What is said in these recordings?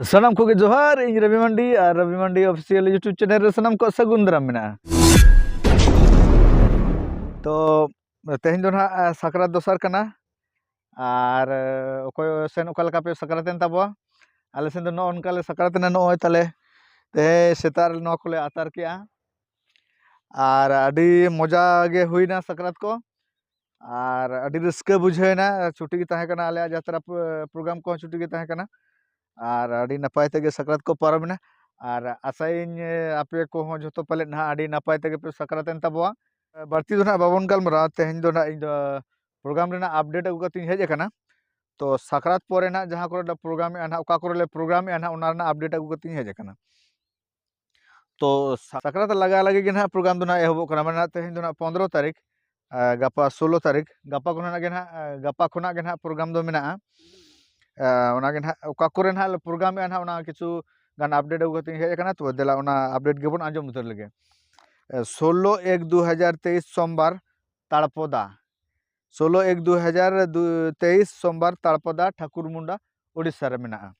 ᱥᱟᱱᱟᱢ ᱠᱚᱜᱮ ᱡᱚᱦᱟᱨ ᱤᱧ ᱨᱚᱵᱤ ᱢᱟᱱᱰᱤ ᱟᱨ Robi Mandi official YouTube channel ᱨᱮ ᱥᱟᱱᱟᱢ ᱠᱚ ᱥᱟᱹᱜᱩᱱ ᱫᱟᱨᱟᱢ ᱢᱮᱱᱟᱜᱼᱟ ᱛᱚ ᱛᱮᱦᱮᱧ ᱫᱚ ᱱᱟᱦᱟᱜ ᱥᱟᱠᱨᱟᱛ ᱫᱚᱥᱟᱨ ᱠᱟᱱᱟ ᱟᱨ ᱚᱠᱚᱭ ᱥᱮᱱ ᱚᱠᱟ ᱞᱮᱠᱟ ᱯᱮ ᱥᱟᱠᱨᱟᱛ ᱮᱱ ᱛᱟᱵᱚᱣᱟ ᱟᱞᱮ ᱥᱮᱱ ᱫᱚ ᱱᱚᱜᱼᱚ ᱱᱚᱝᱠᱟ ᱞᱮ ᱥᱟᱠᱨᱟᱛ ᱮᱱᱟ ᱱᱚᱜᱼᱚᱭ ᱛᱟᱞᱮ ᱛᱮᱦᱮᱧ ᱥᱮᱛᱟᱜ ᱨᱮ ᱱᱚᱣᱟ ᱠᱚᱞᱮ ᱟᱛᱟᱨ ᱠᱮᱜᱼᱟ ᱟᱨ ᱟᱹᱰᱤ ᱢᱚᱡᱟ ᱜᱮ ᱦᱩᱭᱱᱟ ᱥᱟᱠᱨᱟᱛ ᱠᱚ ᱟᱨ ᱟᱹᱰᱤ ᱨᱟᱹᱥᱠᱟᱹ ᱵᱩᱡᱷᱟᱹᱣ ᱮᱱᱟ ᱪᱷᱩᱴᱤ ᱜᱮ ᱛᱟᱦᱮᱸ ᱠᱟᱱᱟ ᱟᱞᱮᱭᱟᱜ ᱡᱟᱛᱨᱟ ᱯᱨᱳᱜᱨᱟᱢ ᱠᱚᱦᱚᱸ ᱪᱷᱩᱴᱤ ᱜᱮ ᱛᱟᱦᱮᱸ ᱠᱟᱱᱟ ᱟᱨ ᱟᱹᱰᱤ ᱱᱟᱯᱟᱭ ᱛᱮᱜᱮ ᱥᱟᱠᱨᱟᱛ ᱠᱚ ᱯᱟᱨᱚᱢ ᱮᱱᱟ ᱟᱨ ᱟᱥᱟᱭᱟᱹᱧ ᱟᱯᱮ ᱠᱚᱦᱚᱸ ᱡᱚᱛᱚ ᱯᱟᱞᱮᱫ ᱱᱟᱦᱟᱜ ᱟᱹᱰᱤ ᱱᱟᱯᱟᱭ ᱛᱮᱜᱮ ᱯᱮ ᱥᱟᱠᱨᱟᱛ ᱮᱱ ᱛᱟᱵᱚᱣᱟ ᱵᱟᱹᱲᱛᱤ ᱫᱚ ᱱᱟᱦᱟᱜ ᱵᱟᱵᱚᱱ ᱜᱟᱞᱢᱟᱨᱟᱣᱟ ᱛᱮᱦᱮᱧ ᱫᱚ ᱱᱟᱦᱟᱜ ᱤᱧ ᱫᱚ ᱯᱨᱳᱜᱨᱟᱢ ᱨᱮᱱᱟᱜ ᱟᱯᱰᱮᱴ ᱟᱹᱜᱩ ᱠᱟᱛᱮᱧ ᱦᱮᱡ ᱟᱠᱟᱱᱟ ᱛᱚ ᱥᱟᱠᱨᱟᱛ ᱯᱚᱨᱮ ᱱᱟᱦᱟᱜ ᱡᱟᱦᱟᱸ ᱠᱚᱨᱮ ᱞᱮ ᱯᱨᱳᱜᱨᱟᱢᱮᱜᱼᱟ ᱱᱟᱦᱟᱜ ᱚᱠᱟ ᱠᱚᱨᱮ ᱞᱮ ᱯᱨᱳᱜᱨᱟᱢᱮᱜᱼᱟ ᱱᱟᱦᱟᱜ ᱚᱱᱟ ᱨᱮᱱᱟᱜ ᱟᱯᱰᱮᱴ ᱟᱹᱜᱩ ᱠᱟᱛᱮᱧ ᱦᱮᱡ ᱟᱠᱟᱱᱟ ᱛᱚ ᱥᱟᱠᱨᱟᱛ ᱞᱟᱜᱟ ᱞᱟᱹᱜᱤᱫ ᱜᱮ ᱱᱟᱦᱟᱜ ᱯᱨᱳᱜᱨᱟᱢ ᱫᱚ ᱱᱟᱦᱟᱜ ᱮᱦᱚᱵᱚᱜ ᱠᱟᱱᱟ ᱢᱟᱱᱮ ᱛᱮᱦᱮᱧ ᱫᱚ ᱱᱟᱦᱟᱜ ᱯᱚᱱᱫᱨᱚ ᱛᱟᱹᱨᱤᱠᱷ ᱜᱟᱯᱟ ᱥᱳᱞᱳ ᱛᱟᱹᱨᱤᱠᱷ ᱜᱟᱯᱟ ᱠᱷᱚᱱᱟᱜ ᱜᱮ ᱱᱟᱦᱟᱜ ᱜᱟᱯᱟ ᱠᱷᱚᱱᱟᱜ ᱜᱮ ᱱᱟᱦᱟᱜ ᱯᱨᱳᱜᱨᱟᱢ ᱫᱚ ᱢᱮᱱᱟᱜᱼᱟ ᱚᱱᱟᱜᱮ ᱱᱟᱦᱟᱜ ᱚᱠᱟ ᱠᱚᱨᱮ ᱱᱟᱦᱟᱜ ᱞᱮ ᱯᱨᱳᱜᱨᱟᱢᱮᱜᱼᱟ ᱱᱟᱦᱟᱜ ᱚᱱᱟ ᱠᱤᱪᱷᱩ ᱜᱟᱱ ᱟᱯᱰᱮᱴ ᱟᱹᱜᱩ ᱠᱟᱛᱮᱧ ᱦᱮᱡ ᱟᱠᱟᱱᱟ ᱛᱚ ᱫᱮᱞᱟ ᱚᱱᱟ ᱟᱯᱰᱮᱴ ᱜᱮᱵᱚᱱ ᱟᱸᱡᱚᱢ ᱩᱛᱟᱹᱨ ᱞᱮᱜᱮ ᱥᱳᱞᱳ ᱮᱠ ᱫᱩ ᱦᱟᱡᱟᱨ ᱛᱮᱭᱤᱥ ᱥᱳᱢᱵᱟᱨ ᱛᱟᱲᱯᱚᱫᱟ ᱥᱳᱞᱳ ᱮᱠ ᱫᱩ ᱦᱟᱡᱟᱨ ᱛᱮᱭᱤᱥ ᱥᱳᱢᱵᱟᱨ ᱛᱟᱲᱯᱟᱫᱟ ᱴᱷᱟᱠᱩᱨ ᱢᱩᱱᱰᱟ ᱳᱰᱤᱥᱟ ᱨᱮ ᱢᱮᱱᱟᱜᱼᱟ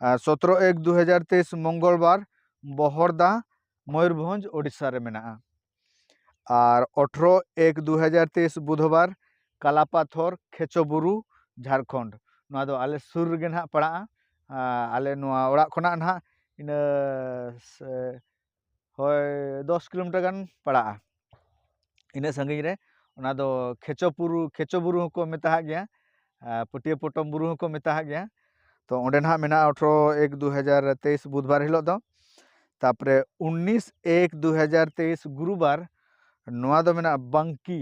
ᱟᱨ ᱥᱚᱛᱨᱚ ᱮᱠ ᱫᱩ ᱦᱟᱡᱟᱨ ᱛᱮᱭᱤᱥ ᱢᱚᱝᱜᱚᱞ ᱵᱟᱨ ᱵᱚᱦᱚᱲᱫᱟ ᱢᱚᱭᱩᱨᱵᱷᱚᱸᱡᱽ ᱳᱰᱤᱥᱟ ᱨᱮ ᱢᱮᱱᱟᱜᱼᱟ ᱟᱨ ᱚᱴᱷᱨᱚ ᱮᱠ ᱫᱩ ᱦᱟᱡᱟᱨ ᱛᱮᱭᱤᱥ ᱵᱩᱫᱷᱵᱟᱨ ᱠᱟᱞᱟᱯᱟᱛᱷᱚᱨ ᱠᱷᱮᱪᱚ ᱵᱩᱨᱩ ᱡᱷᱟᱲᱠᱷᱚᱸᱰ ᱱᱚᱣᱟ ᱫᱚ ᱟᱞᱮ ᱥᱩᱨ ᱨᱮᱜᱮ ᱱᱟᱦᱟᱜ ᱯᱟᱲᱟᱜᱼᱟ ᱟᱞᱮ ᱱᱚᱣᱟ ᱚᱲᱟᱜ ᱠᱷᱚᱱᱟᱜ ᱱᱟᱦᱟᱜ ᱤᱱᱟᱹ ᱦᱳᱭ ᱫᱚᱥ ᱠᱤᱞᱳᱢᱤᱴᱟᱨ ᱜᱟᱱ ᱯᱟᱲᱟᱜᱼᱟ ᱤᱱᱟᱹᱜ ᱥᱟᱺᱜᱤᱧ ᱨᱮ ᱚᱱᱟ ᱫᱚ ᱠᱷᱮᱪᱚ ᱵᱩᱨᱩ ᱠᱷᱮᱪᱚ ᱵᱩᱨᱩ ᱦᱚᱸᱠᱚ ᱢᱮᱛᱟᱜ ᱜᱮᱭᱟ ᱟᱨ ᱯᱟᱹᱴᱭᱟᱹ ᱯᱚᱴᱚᱢ ᱵᱩᱨᱩ ᱦᱚᱸᱠᱚ ᱢᱮᱛᱟᱜ ᱜᱮᱭᱟ ᱛᱚ ᱚᱸᱰᱮ ᱱᱟᱦᱟᱜ ᱢᱮᱱᱟᱜᱼᱟ ᱟᱴᱷᱨᱚ ᱮᱠ ᱫᱩ ᱦᱟᱡᱟᱨ ᱛᱮᱭᱤᱥ ᱵᱩᱫᱷ ᱵᱟᱨ ᱦᱤᱞᱳᱜ ᱫᱚ ᱛᱟᱨᱯᱚᱨᱮ ᱩᱱᱤᱥ ᱮᱠ ᱫᱩ ᱦᱟᱡᱟᱨ ᱛᱮᱭᱤᱥ ᱜᱩᱨᱩ ᱵᱟᱨ ᱱᱚᱣᱟ ᱫᱚ ᱢᱮᱱᱟᱜᱼᱟ ᱵᱟᱝᱠᱤ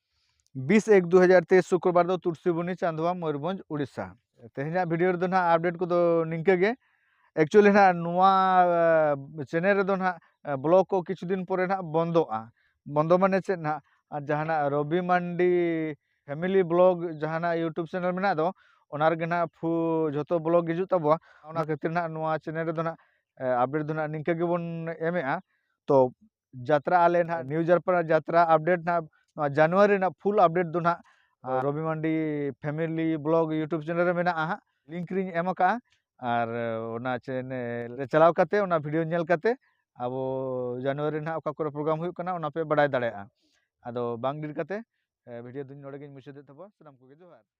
ᱵᱤᱥ ᱮᱠ ᱫᱩ ᱦᱟᱡᱟᱨ ᱛᱮᱭᱤᱥ ᱥᱩᱠᱨᱚᱵᱟᱨ ᱫᱚ ᱛᱩᱨᱥᱤᱵᱚᱱᱤ ᱪᱟᱸᱫᱳᱣᱟ ᱢᱚᱭᱩᱨᱵᱷᱚᱸᱡᱽ ᱩᱲᱤᱥᱥᱟ ᱛᱮᱦᱮᱧᱟᱜ ᱵᱷᱤᱰᱤᱭᱳ ᱨᱮᱫᱚ ᱱᱟᱦᱟᱜ ᱟᱯᱰᱮᱴ ᱠᱚᱫᱚ ᱱᱤᱝᱠᱟᱹ ᱜᱮ ᱮᱠᱪᱩᱭᱮᱞᱤ ᱱᱟᱦᱟᱜ ᱱᱚᱣᱟ ᱪᱮᱱᱮᱞ ᱨᱮᱫᱚ ᱱᱟᱦᱟᱜ ᱵᱞᱚᱜ ᱠᱚ ᱠᱤᱪᱷᱩ ᱫᱤᱱ ᱯᱚᱨᱮ ᱱᱟᱦᱟᱜ ᱵᱚᱱᱫᱚᱜᱼᱟ ᱵᱚᱱᱫᱚ ᱢᱟᱱᱮ ᱪᱮᱫ ᱱᱟᱦᱟᱜ ᱟᱨ ᱡᱟᱦᱟᱱᱟᱜ ᱨᱚᱵᱤ ᱢᱟᱱᱰᱤ ᱯᱷᱮᱢᱮᱞᱤ ᱵᱞᱚᱜ ᱡᱟᱦᱟᱱᱟᱜ ᱤᱭᱩᱴᱩᱵᱽ ᱪᱮᱱᱮᱞ ᱢᱮᱱᱟᱜ ᱫᱚ ᱚᱱᱟ ᱨᱮᱜᱮ ᱱᱟᱦᱟᱜ ᱯᱷᱩ ᱡᱷᱚᱛᱚ ᱵᱞᱚᱜ ᱦᱤᱡᱩᱜ ᱛᱟᱵᱚᱣᱟ ᱚᱱᱟ ᱠᱷᱟᱹᱛᱤᱨ ᱱᱟᱦᱟᱜ ᱱᱚᱣᱟ ᱪᱮᱱᱮᱞ ᱨᱮᱫᱚ ᱱᱟᱦᱟᱜ ᱟᱯᱰᱮᱴ ᱫᱚ ᱱᱟᱦᱟᱜ ᱱᱤᱝᱠᱟᱹ ᱜᱮᱵᱚᱱ ᱮᱢᱮᱜᱼᱟ ᱛᱚ ᱡᱟᱛᱨᱟ ᱟᱞᱮ ᱱᱟᱦᱟᱜ ᱱᱤᱭᱩ ᱡᱟᱨᱯᱟᱲᱟ ᱡᱟᱛᱨᱟ ᱟᱯᱰᱮᱴ ᱱᱟᱦᱟᱜ ᱱᱚᱣᱟ ᱡᱟᱱᱩᱣᱟᱨᱤ ᱨᱮᱱᱟᱜ ᱯᱷᱩᱞ ᱟᱯᱰᱮᱴ ᱫᱚ ᱱᱟᱦᱟᱜ Robi Mandi family blog YouTube channel ᱨᱮ ᱢᱮᱱᱟᱜᱼᱟ ᱦᱟᱸᱜ ᱞᱤᱝᱠ ᱨᱤᱧ ᱮᱢ ᱟᱠᱟᱜᱼᱟ ᱟᱨ ᱚᱱᱟ ᱪᱮᱱᱮᱞ ᱨᱮ ᱪᱟᱞᱟᱣ ᱠᱟᱛᱮ ᱚᱱᱟ ᱵᱷᱤᱰᱤᱭᱳ ᱧᱮᱞ ᱠᱟᱛᱮ ᱟᱵᱚ ᱡᱟᱱᱩᱣᱟᱨᱤ ᱱᱟᱦᱟᱜ ᱚᱠᱟ ᱠᱚᱨᱮ ᱯᱨᱳᱜᱨᱟᱢ ᱦᱩᱭᱩᱜ ᱠᱟᱱᱟ ᱚᱱᱟ ᱯᱮ ᱵᱟᱰᱟᱭ ᱫᱟᱲᱮᱭᱟᱜᱼᱟ ᱟᱫᱚ ᱵᱟᱝ ᱰᱤᱞ ᱠᱟᱛᱮ ᱵᱷᱤᱰᱤᱭᱳ ᱫᱚᱧ ᱱᱚᱰᱮ ᱜᱤᱧ ᱢᱩᱪᱟᱹᱫᱮᱫ ᱛᱟᱵᱚᱱᱟ ᱥᱟᱱᱟᱢ ᱠᱚᱜᱮ ᱡᱚᱦᱟᱨ